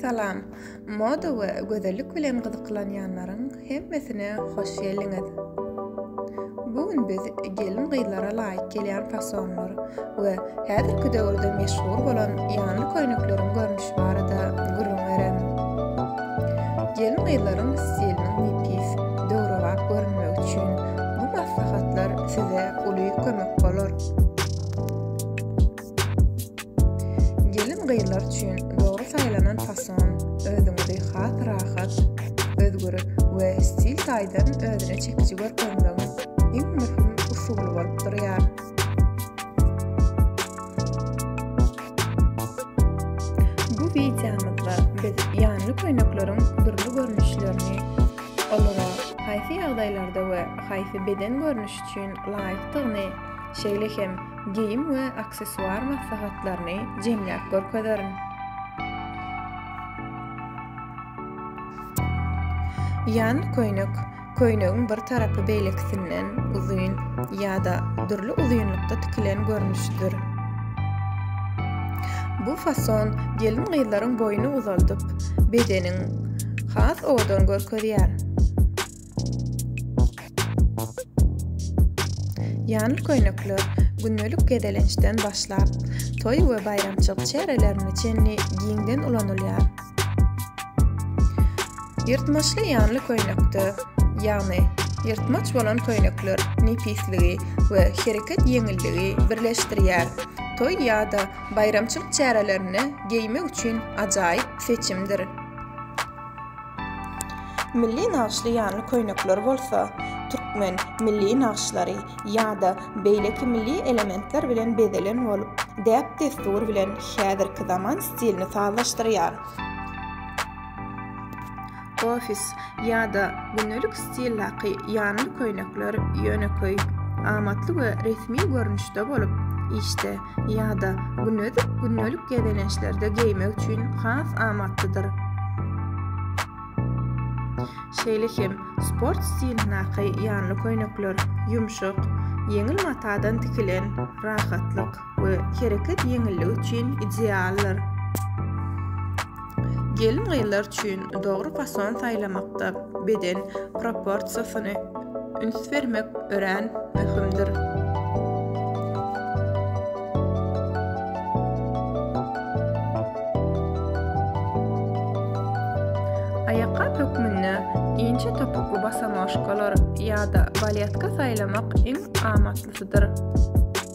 Salam. Moda we gözellik bilen gyzyklanýanlaryň hemmesine hoş geldiňiz. Bu gün biz gelin-gyzlara laýyk gelýän fasonlar we häzirki döwürde meşhur bolan ýanly köýnekleriň görnüşi barada gürrüň bererin. Gelin-gyzlaryň stiliniň nepis, döwrebap görünmegi üçin bu maslahatlar size uly kömek bolar. Gelin-gyzlar üçin dogry saýlanan fason özüňizi has rahat, özgür we stil taýdan özüne çekiji görkezmegiň iň möhüm usuly bolup durýar. Bu wideomyzda biz ýanly köýnekleriň dürli görnüşlerini, olara haýsy ýagdaýlarda we haýsy beden görnüşi üçin laýykdygyny şeýle hem geýim we aksessuar maslahatlaryny jemläp görkezerin. Ýan köýnek köýnegiň bir tarapy beýlekisinden uzyn ýa-da dürli uzynlykda tikilen görnüşidir. Bu fason gelin-gyzlaryň boýuny uzaldyp, bedeniň has owadan görkezýär. Ýanly köýnekler gündelik gezelençden başlap, toý we baýramçylyk çärelerine çenli giňden ulanylýar. Ýyrtmaçly ýanly köýnekde, ýagny ýyrtmaç bolan köýnekler nepisligi we hereket ýeňilligi birleşdirýär, toý ýa-da baýramçylyk çärelerine geýmek üçin ajaýyp seçimdir. Milli nagyşly ýanly köýnekler bolsa türkmen milli nagyşlary ýa-da beýleki milli elementler bilen bezelen bolup, däp-dessur bilen häzirki zaman stilini sazlaşdyrýar. Ofis ýa-da gündelik stildaky ýanly köýnekler ýönekeý, amatly we resmi görnüşde bolup, işde ýa-da günedik gündelik gezelençlerde geýmek üçin has amatlydyr. Şeýle hem sport stilindaky ýanly köýnekler ýumşak, ýeňil matadan tikilen, rahatlyk we hereket ýeňilligi üçin idealdyr. Gelin-gyzlar üçin dogry fason saýlamakda beden proporsiýasyny üns bermek örän möhümdir. Aýakgap hökmünde inçe topukly bosonožkalar ýa-da baletka saýlamak iň amatlysydyr.